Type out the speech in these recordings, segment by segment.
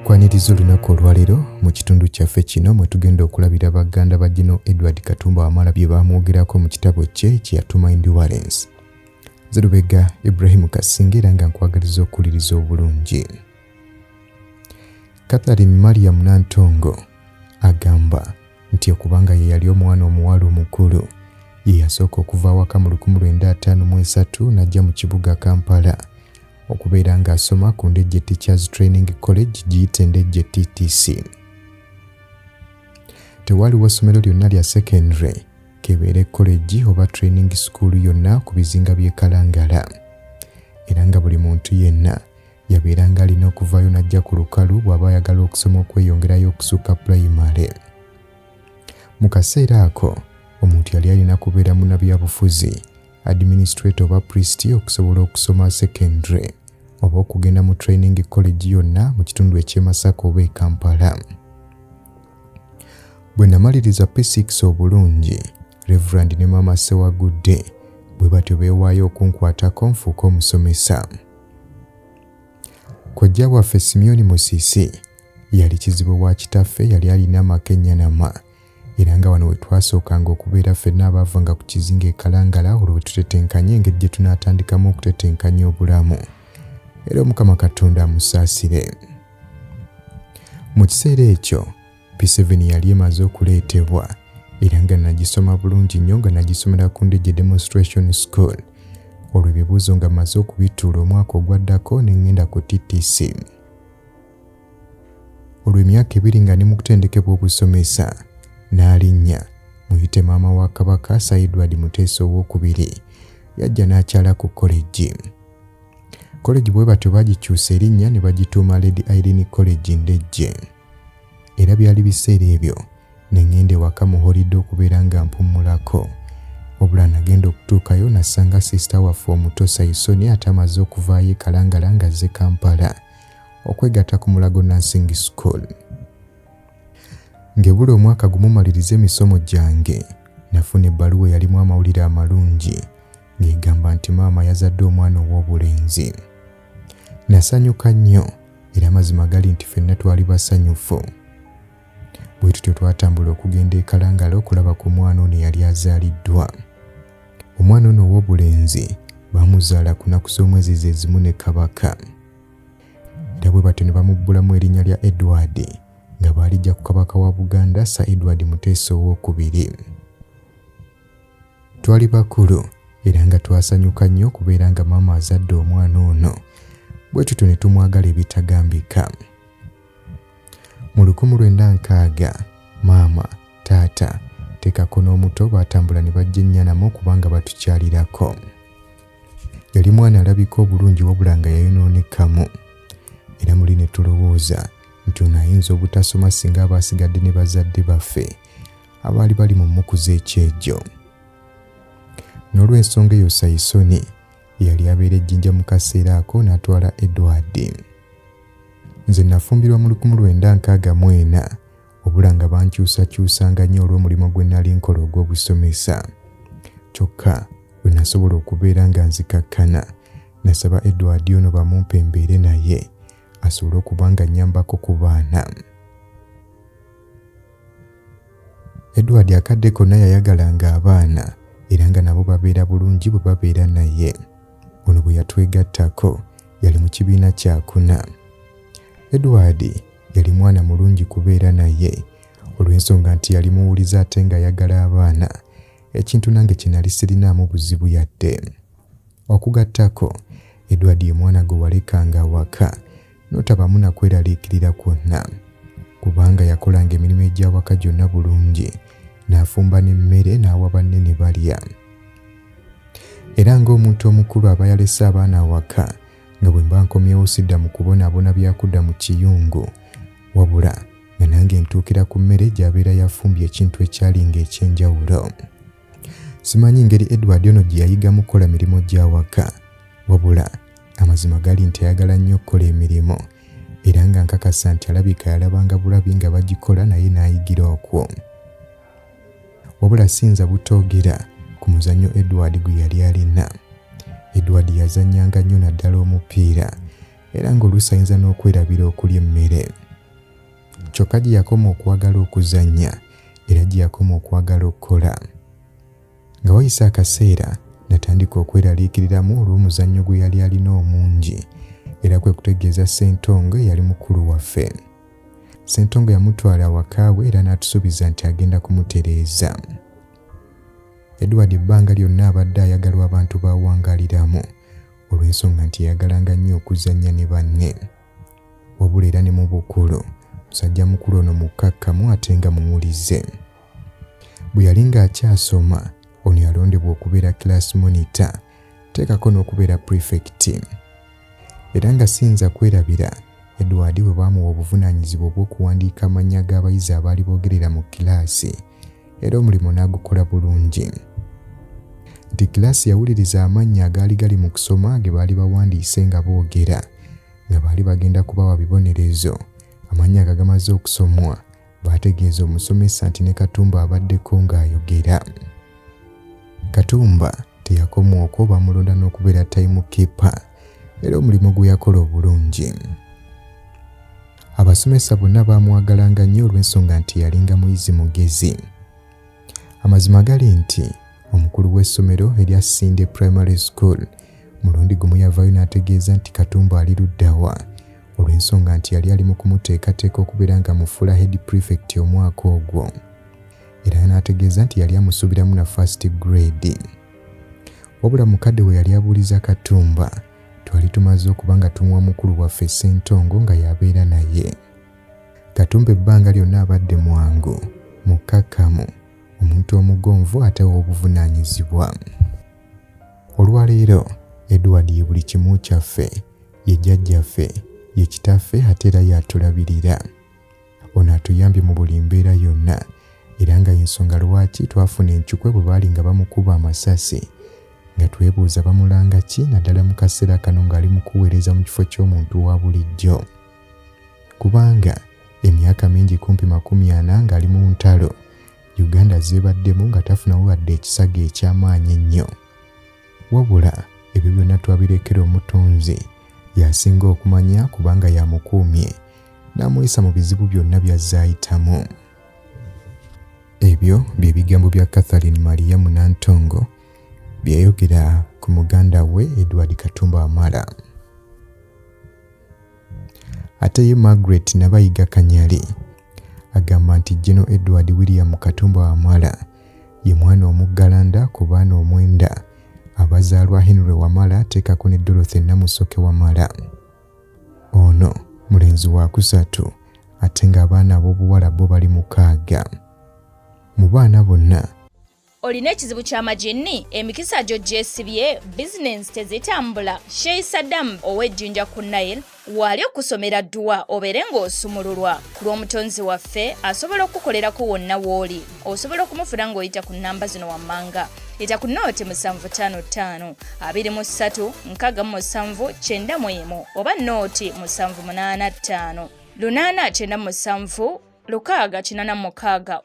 kwaniriza olunaku olwaleero mu kitundu kyaffe kino mwe tugenda okulabira baganda ba gino edward katumba wamala bye baamwogerako mu kitabo kye kyeyatuma endurance zerubega ibrahimu kasinga era nga nkwagaliza okuwuliriza obulungi catherine mariam nantongo Agamba nti okubanga ye yali omwana omuwala omukulu, ye yasooka okuva awaka mu 1953 n'ajja mu kibuga Kampala okubeera ng'asoma ku Ndejje Teachers Training College giyite Ndejje TTC. Tewaaliwo ssomero lyonna lya secondary kebeere college oba training school yonna ku bizinga by'e Kalangala era nga buli muntu yenna yabeeranga alina okuvaayo n'ajja ku lukalu bw'aba ayagala okusoma okweyongerayo okusukka pulayimale mu kaseera ako omuntu yali alina kubeera munabyabufuzi administrator oba pristi okusobola okusoma secondary oba okugenda mu training college yonna mu kitundu eky'e masaka oba e kampala bwe namaliriza p6 obulungi reverand ne maama sewagudde bwe batyo beewaayo okunkwatako nfuuka omusomesa kojja waffe simyoni musisi yali kizibu wa kitaffe yali alina amaka ennyanama era nga wano we twasookanga okubeera ffenna abaavanga ku kizinga ekalangala olwo bwe tutetenkanya engeri gye tunaatandikamu okutetenkanya obulamu era omukama katonda amusaasire mu kiseera ekyo P7 yali emaze okuleetebwa era nga nagisoma bulungi nnyo nga nagisomera ku Ndejje Demonstration School. Olwo ebibuuzo nga maze okubituula omwaka ogwaddako ne ngenda ku TTC. Olwo emyaka ebiri nga ne mu kutendekebwa obusomesa n'alinnya muyite maama wa Kabaka Sir Edward Muteesa ow'okubiri yajja n'akyala ku koleji. Koleji bwe batyo bagikyusa erinnya ne bagituuma Lady Irene College Ndejje. era byali biseera ebyo ne ŋŋenda ewaka mu holidde okubeera nga mpummulako wabula nagenda okutuukayo nasanga sisita waffe omuto saisoni ate amaze okuvaayo ekalangala nga azze kampala okwegatta ku mulago nursing school ngebula omwaka gumumaliriza emisomo gyange nafuna ebbaluwa eyalimu amawulire amalungi ng'egamba nti maama yazadde omwana ow'obulenzi Nasanyuka nnyo era amazima gali nti fenna twali basanyufu. Bwe tutyo twatambula okugenda e Kalangala okulaba ku mwana ono eyali azaaliddwa. Omwana ono ow'obulenzi baamuzaala ku naku z'omwezi ze zimu ne Kabaka. Era bwe batyo ne bamubbulamu erinnya lya Edward nga baalijja ku Kabaka wa Buganda Sir Edward Muteesa ow'okubiri. Twali bakulu era nga twasanyuka nnyo okubeera nga maama azadde omwana ono bwe tutyo ne tumwagala ebitagambika. Mu lukumu lwenda nkaaga maama taata tekako n'omuto baatambula ne bajja ennyanamu okubanga batukyalirako. Yali mwana alabika obulungi wabula nga yayonoonekamu era muli ne tulowooza nti ono ayinza obutasoma singa aba asigadde ne bazadde baffe abaali bali mu mmuku z'ekyejo. N'olw'ensonga eyo Sayisoni yali abeera ejjinja mu kaseera ako n'atwala Edward. Nze nafumbirwa mu lukumu lwenda nkaaga mu ena obula nga bankyusakyusanga nnyo olw'omulimu gwe nali nkola ogw'obusomesa. Kyokka lwe nasobola okubeera nga nzikakkana nasaba Edward ono bamumpe mbeere naye asobole okuba nga nnyambako ku baana. Edward akadde konna yayagalanga abaana era nga nabo babeera bulungi bwe babeera naye. Ono bwe yatwegattako yali mu kibiina kyakuna. Edward yali mwana mulungi kubeera naye olw'ensonga nti yali muwulize ate ng'ayagala abaana, ekintu nange kye nali sirinaamu buzibu yadde. Okugattako, Edward ye mwana gwe walekanga awaka n'otabamu na kweraliikirira kwonna kubanga yakolanga emirimu egy'awaka gyonna bulungi n'afumba n'emmere n'awa banne ne balya era ng'omuntu omukulu aba yalese abaana awaka nga bwe mba nkomyewo sidda mu kubonaabona byakudda mu kiyungu wabula nga nange ntuukira ku mmere gy'abeera yafumbye ekintu ekyalinga eky'enjawulo Simanyi ngeri Edward ono gye yayigamu okukola mirimu gya waka wabula amazima gali nti ayagala nnyo okukola emirimu era nga nkakasa nti alabika yalabanga bulabi nga bagikola naye n'ayigira okwo. Wabula siyinza butoogera ku muzannyo Edward gwe yali alina. Edward yazannyanga nnyo naddala omupiira era ng'oluusi ayinza n'okwerabira okulya emmere. kyokka gye yakoma okwagala okuzannya era gye yakoma okwagala okukola nga wayise akaseera natandika okweraliikiriramu olw'omuzannyo gwe yali alina omungi era kwe kutegeeza ssentongo eyali mukulu waffe ssentongo yamutwala awakaawe era n'atusuubiza nti agenda kumutereeza edward ebbanga lyonna abadde ayagalwa abantu bawangaaliramu olw'ensonga nti yayagalanga nnyo okuzannya ne banne wabula era ne mu bukulu musajja mukulu ono mukkakkamu ate nga muwulize bwe yali ng'akyasoma ono yalondebwa okubeera class monitor teekako n'okubeera prefect era nga siyinza kwerabira edward bwe baamuwa obuvunaanyizibwa obw'okuwandiika amannya g'abayizi abaali boogerera mu kilaasi era omulimu n'agukola bulungi. Nti kiraasi yawuliriza amannya agaali gali mu kusoma ge baali bawandiise nga boogera nga baali bagenda kubawa bibonerezo. Amannya nga gamaze okusomwa, baategeeza omusomesa nti ne Katumba abaddeko ng'ayogera. Katumba teyakomwa okwo bamulonda n'okubeera tayimukipa era omulimu gwe yakola obulungi. Abasomesa bonna baamwagalanga nnyo olw'ensonga nti yalinga muyizi mugezi. Amazima gali nti omukulu w'essomero erya Sinde Primary School mulundi gumu yavaayo n'ategeeza nti Katumba ali luddawa olw'ensonga nti yali ali mu kumuteekateeka okubeera nga mufuula head prefect omwaka ogwo era n'ategeeza nti yali amusuubiramu na first grade wabula mukadde we yali abuuliza Katumba Twali tumaze okuba nga tumuwa mukulu waffe Ssentongo nga y'abeera naye. Katumba ebbanga lyonna abadde mwangu, mukkakkamu, omuntu omugonvu ate ow'obuvunaanyizibwa. Olwaleero Edward ye buli kimu kyaffe, ye jjajjaffe, ye kitaffe ate era y'atulabirira. ono atuyambye mu buli mbeera yonna era nga yensonga lwaki twafuna encukwe bwe baali nga bamukuba amasasi nga twebuuza bamulanga ki naddala mu kaseera kano ng'ali mu kuweereza mu kifo ky'omuntu wa bulijjo kubanga emyaka mingi kumpi makumi ana ng'ali mu ntalo uganda zeebaddemu nga tafunawo wadde ekisaga eky'amaanyi ennyo wabula ebyo byonna twabirekera omutonzi yasinga okumanya kubanga yamukuumye n'amuyisa mu bizibu byonna by'azze ayitamu ebyo bye bigambo bya catherine mariyamu nantongo bye yayogera ku muganda we edward katumba wamala ate ye margaret nabayiga kanyali agamba nti geno edward william katumba wamala ye mwana omuggalanda ku baana omwenda abazaalwa henry wamala teekako ne dorothy namusoke wamala ono mulenzi wa kusatu ate ng'abaana ab'obuwala bo bali mukaaga mu baana bonna olina ekizibu ky'amaginni emikisa gyo gyesibye bizinensi tezitambula sheyi saddamu ow'ejjinja ku nile waali okusomera dduwa obeere ng'osumululwa ku lw'omutonzi waffe asobola okukukolerako wonna w'oli osobola okumufuna ng'oyita ku nnamba zino wammanga yita ku nooti musanvu ttaano ttaano abiri mu ssatu nkaaga mu musanvu kyenda mu emu oba nooti musanvu munaana ttaano lunaana kyenda musanvu lukaaga kinana mukaaga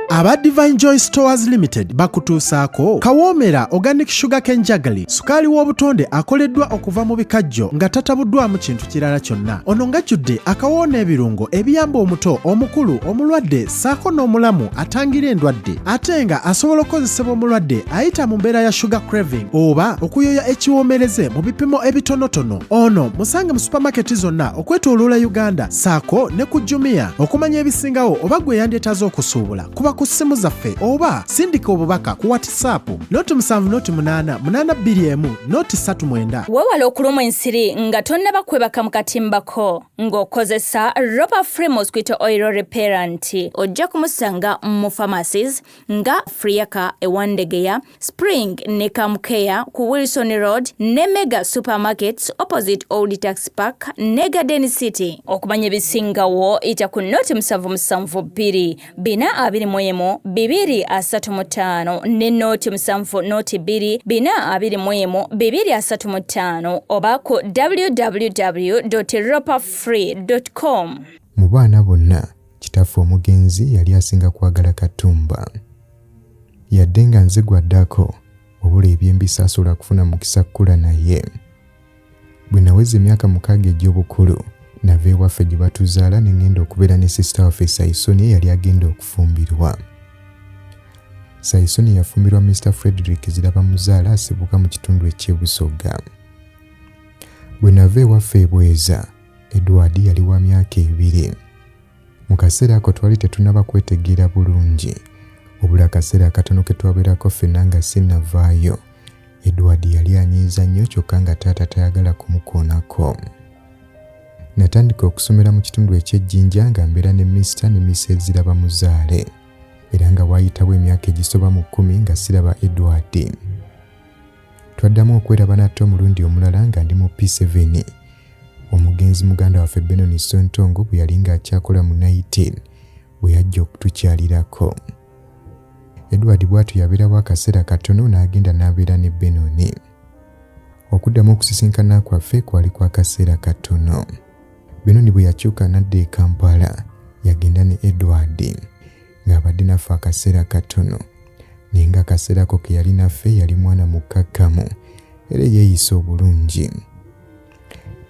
aba divine joy stores limited bakutuusaako kawoomera organic sugar ken jagali sukaali w'obutonde akoleddwa okuva mu bikajjo nga tatabuddwamu kintu kirala kyonna ono ngajjudde akawoona ebirungo ebiyamba omuto omukulu omulwadde saako n'omulamu atangira endwadde ate nga asobola okukozesebwa omulwadde ayita mu mbeera ya sugar craving oba okuyoya ekiwoomereze mu bipimo ebitonotono ono musange mu supamaketi zonna okwetoloola uganda saako ne ku jumia okumanya ebisingawo oba gwe yandyetaaze okusuubula kuba ku ssimu zaffe oba sindika obubaka ku whatsapp noti 7 noti 8 821 noti 39 wewala okulumwa ensiri nga tonnaba kwebaka mu katimbako Ng'okozesa Ropa Free Mosquito Oil Repellent ojja kumusanga mu pharmacies nga Friaka e Wandegeya, Spring ne Kamukea ku Wilson Road ne Mega Supermarkets opposite Old Tax Park ne Garden City. Okumanya ebisingawo yita ku nnoti musanvu musanvu bbiri. bina abiri mu emu bibiri asatu mu ttaano ne nooti musanvu nooti bbiri bina abiri mu emu bibiri asatu mu ttaano oba ku www ropafree com mu baana bonna kitaffe omugenzi yali asinga kwagala katumba yadde nga nze gwaddako obula ebyembisaasula kufuna mukisa kukula naye Bwe naweza emyaka mukaaga egy'obukulu, nava ewaffe gye batuzaala ne ngenda okubeera ne sisita waffe Sayisoni eyali agenda okufumbirwa. Sayisoni yafumbirwa Mr. Frederick Zirabamuzaala asibuka mu kitundu eky'e Busoga. Bwe nava ewaffe e Bweza, Edward yali wa myaka ebiri. Mu kaseera ako twali tetunaba kwetegeera bulungi. Wabula akaseera akatono ke twabeerako ffenna nga sinnavaayo, Edward yali anyiiza nnyo kyokka nga taata tayagala kumukoonako. Natandika okusomera mu kitundu eky'ejjinja nga mbeera ne Mister ne Mrs Zirabamuzaale era nga waayitawo emyaka egisoba mu kkumi nga siraba Edward. Twaddamu okweraba nate omulundi omulala nga ndi mu P7. Omugenzi muganda waffe Benon Sontongo bwe yali ng'akyakola mu Naitin bwe yajja okutukyalirako. Edward bw'atyo yabeerawo akaseera katono n'agenda n'abeera ne Benoni. Okuddamu okusisinkana kwaffe kwali kwa kaseera katono. Benoni bwe yakyuka n'adda e Kampala, yagenda ne Edward. ng'abadde naffe akaseera katono naye nga akaseera ko ke yali naffe yali mwana mukkakkamu era yeeyisa obulungi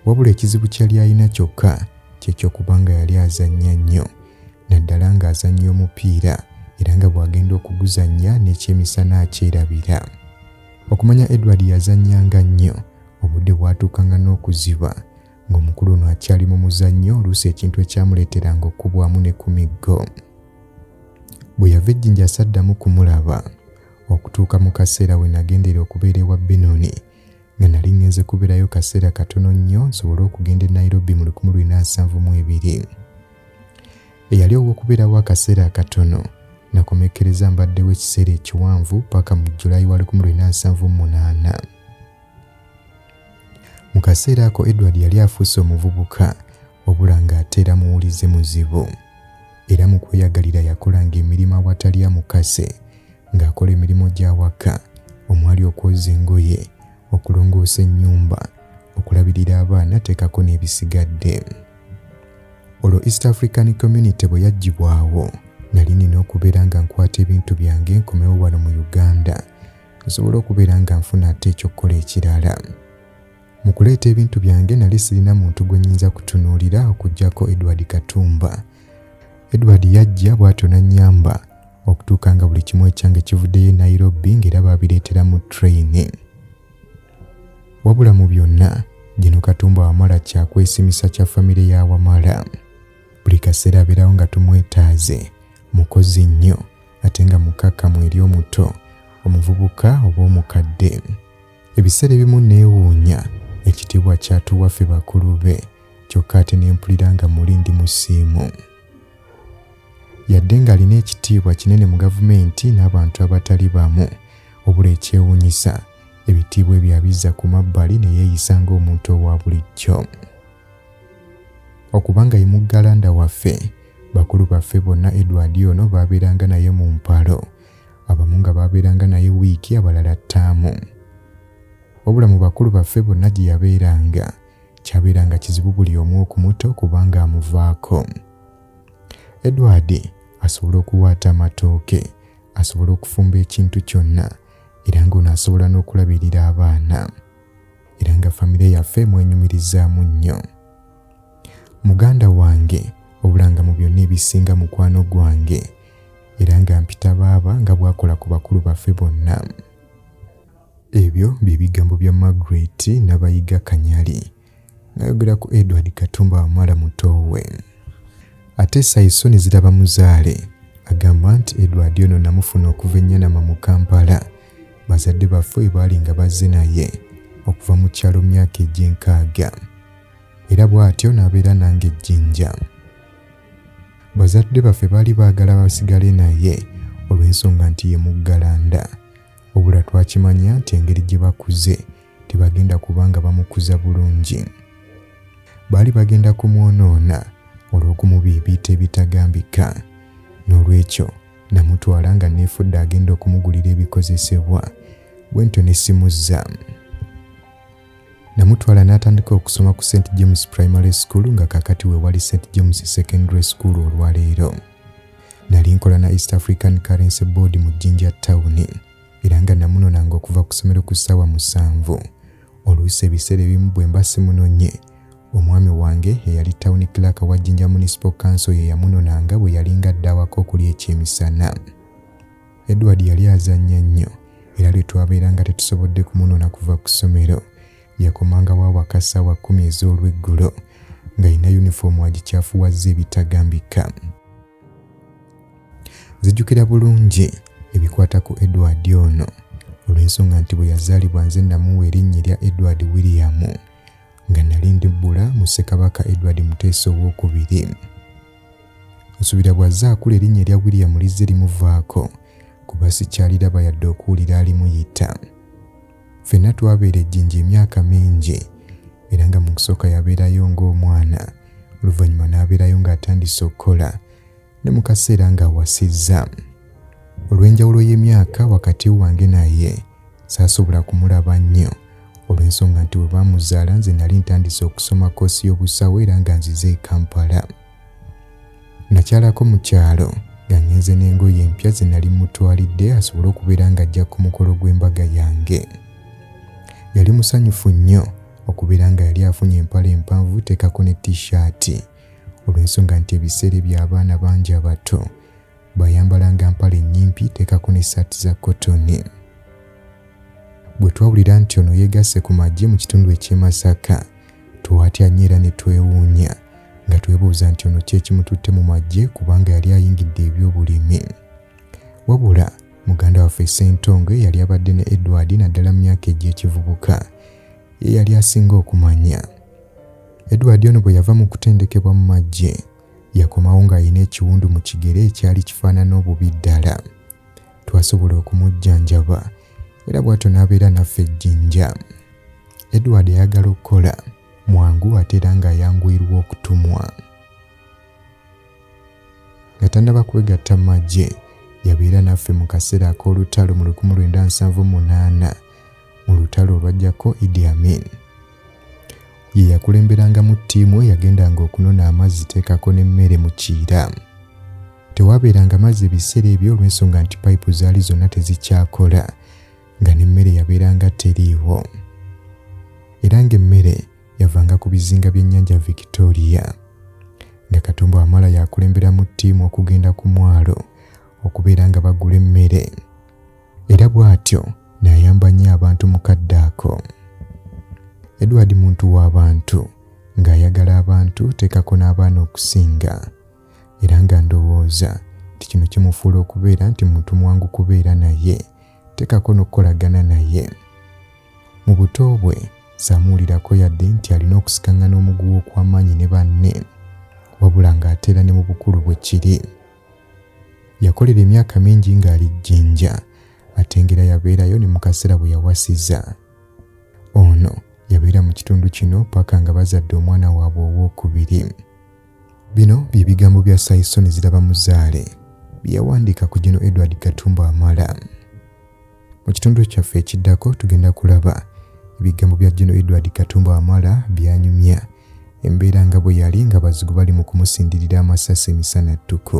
wabula ekizibu kyeyali alina kyokka kyekyokubanga yali azannya nnyo naddala ng'azannya omupiira era nga bw'agenda okuguzannya n'ekyemisana akyerabira okumanya edward yazannyanga nnyo obudde bwatuukanga n'okuziba ng'omukulu ono akyali mu muzannyo oluusi ekintu ekyamuleeteranga okukubwamu ne ku miggo bwe yava ejjinja saddamu kumulaba okutuuka mu kaseera we nagendera okubeera ewa benoni nga nali ŋŋenze kubeerayo kaseera katono nnyo nsobole okugenda e nairobi mu 1972 eyali ow'okubeerawo akaseera akatono nakomekkereza mbaddewo ekiseera ekiwanvu paka mu julayi wa 1978 Mu kaseera ako Edward yali afuuse omuvubuka wabula ng'ate era muwulize muzibu. Era mu kweyagalira yakolanga emirimu awatali amukase ng'akola emirimu gy'awaka omwali okwoza engoye, okulongoosa ennyumba, okulabirira abaana teekako n'ebisigadde. Olwo East African Community bwe yaggyibwawo nali nina okubeera nga nkwata ebintu byange nkomewo wano mu Uganda nsobole okubeera nga nfuna ate ekyokukola ekirala mu kuleeta ebintu byange nali sirina muntu gwe nyinza kutunuulira okugyako edward katumba edward yajja bw'atyo nannyamba okutuuka nga buli kimu ekyange kivuddeyo e nairobi ng'era baabireetera mu trayini wabula mu byonna gino katumba wamala kyakwesimisa kya famire ya wamala buli kaseera abeerawo nga tumwetaaze mukozi nnyo ate nga mukkakkamu eri omuto omuvubuka oba omukadde ebiseera ebimu neewuunya ekitiibwa kyatuwa ffe bakulu be kyokka ate ne mpulira nga muli ndi musiimu yadde ng'alina ekitiibwa kinene mu gavumenti n'abantu abatali bamu obula ekyewuunyisa ebitiibwa ebyo abizza ku mabbali ne yeeyisa ng'omuntu owa bulijjo okuba nga ye muggalanda waffe bakulu baffe bonna edward ono baabeeranga naye mu mpalo abamu nga baabeeranga naye wiiki abalala ttaamu wabula mu bakulu baffe bonna gye yabeeranga kyabeeranga kizibu buli omu okumuta okubanga amuvaako edward asobola okuwaata amatooke asobola okufumba ekintu kyonna era ng'ono asobola n'okulabirira abaana era nga famire yaffe mwenyumirizaamu nnyo muganda wange obulanga mu byonna ebisinga mukwano gwange era nga mpita baaba nga bwakola ku bakulu baffe bonna ebyo bye bigambo bya margaret nabayiga kanyali ngayogera ku edward katumba wamala mutoowe ate saisoni ziraba muzaale agamba nti edward ono namufuna okuva ennyanama mu kampala bazadde baffe bwe baali nga bazze naye okuva mu kyalo myaka egy'enkaaga era bw'atyo n'abeera nange ejjinja bazadde baffe baali baagala basigale naye olw'ensonga nti ye muggalanda obula twakimanya nti engeri gye bakuze tebagenda kuba nga bamukuza bulungi baali bagenda kumwonoona olw'okumubiibiita ebitagambika n'olwekyo Namutwala nga neefudde agenda okumugulira ebikozesebwa bwentyo ne simuzza. Namutwala n'atandika okusoma ku St James Primary School nga kakati we wali St James Secondary School olwaleero. Nali nkola na East African Currency Board mu Jinja Town era nga namunonanga okuva ku ssomero ku ssaawa musanvu oluusi ebiseera ebimu bwe mba simunonye omwami wange eyali tawuni kilaaka wa jinja municipal council ye yamunonanga bwe yalinga dda awaka okuli ekyemisana edward yali azannya nnyo era lwe twabeeranga tetusobodde kumunona kuva ku ssomero yakomangawo awaka ssaawa kkumi ez'olweggulo ng'alina yunifoomu agikyafuwazza ebitagambika zijjukira bulungi ebikwata ku edward ono olw'ensonga nti bwe yazaalibwa nze namuwa erinnya erya edward william nga nali ndibbula mu ssekabaka edward muteesa ow'okubiri nsuubira bw'azze akula erinnya erya william lizze limuvaako kuba sikyaliraba yadde okuwulira alimuyita Ffenna twabeera ejjinja emyaka mingi era nga mu kusooka yabeerayo ng'omwana oluvannyuma n'abeerayo ng'atandise okukola ne mu kaseera ng'awasizza. Olw'enjawulo y'emyaka wakati wange naye saasobola kumulaba nnyo olw'ensonga nti bwe baamuzaala nze nali ntandise okusoma kkoosi y'obusawo era nga nzize e Kampala. nakyalako mu kyalo nga ngenze n'engoye empya ze nali mutwalidde asobole okubeera ng'ajja ku mukolo gw'embaga yange yali musanyufu nnyo okubeera nga yali afunye empale empanvu teekako ne t-shirt olw'ensonga nti ebiseera eby'abaana bangi abato baayambalanga mpale nnyimpi teekako n'essaati za kotoni. Bwe twawulira nti ono yeegasse ku magye mu kitundu eky'e Masaka, twatya nnyo era ne twewuunya nga twebuuza nti ono kyekimututte mu magye kubanga yali ayingidde eby'obulimi. Wabula muganda waffe Ssentongo eyali abadde ne Edward naddala mu myaka egy'ekivubuka ye yali asinga okumanya. Edward ono bwe yava mu kutendekebwa mu magye, Yakomawo ng'alina ekiwundu mu kigere ekyali kifaanana obubi ddala. Twasobola okumujjanjaba era bw'atyo n'abeera naffe ejjinja. Edward ayagala okukola mwangu ate era ng'ayanguyirwa okutumwa. Nga tannaba kwegatta mu magye, yabeera naffe mu kaseera ak'olutalo mu 1978. mu lutalo olwajjako Idi Amin. Ye yakulemberangamu ttiimu eyagendanga okunona amazzi teekako n'emmere mu Kiira. Tewaabeeranga mazzi ebiseera ebyo olw'ensonga nti payipu zaali zonna tezikyakola nga n'emmere yabeeranga teriiwo. Era ng'emmere yavanga ku bizinga by'ennyanja Victoria. Nga Katumba Wamala yakulemberamu ttiimu okugenda ku mwalo okubeera nga bagula emmere. era bw'atyo n'ayamba nnyo abantu mu kadde ako edward muntu w'abantu ng'ayagala abantu teekako n'abaana okusinga era nga ndowooza nti kino kimufuula okubeera nti muntu mwangu kubeera naye teekako n'okukolagana naye mu buto bwe saamuwulirako yadde nti alina okusikaŋŋana omuguwa okw'amaanyi ne banne wabula ng'ateera ne mu bukulu bwe kiri yakolera emyaka mingi ng'ali jjinja ate ngera yabeerayo ne mu kaseera bwe yawasiza ono yabeera mu kitundu kino paka nga bazadde omwana waabwe ow'okubiri bino bye bigambo bya saisoni ziraba muzaale bye yawandiika ku gino edward katumba amala Mu kitundu kyaffe ekiddako tugenda kulaba ebigambo bya General Edward Katumba Wamala byanyumya embeera nga bwe yali nga bazigu bali mu kumusindirira amasasi emisana ttuku.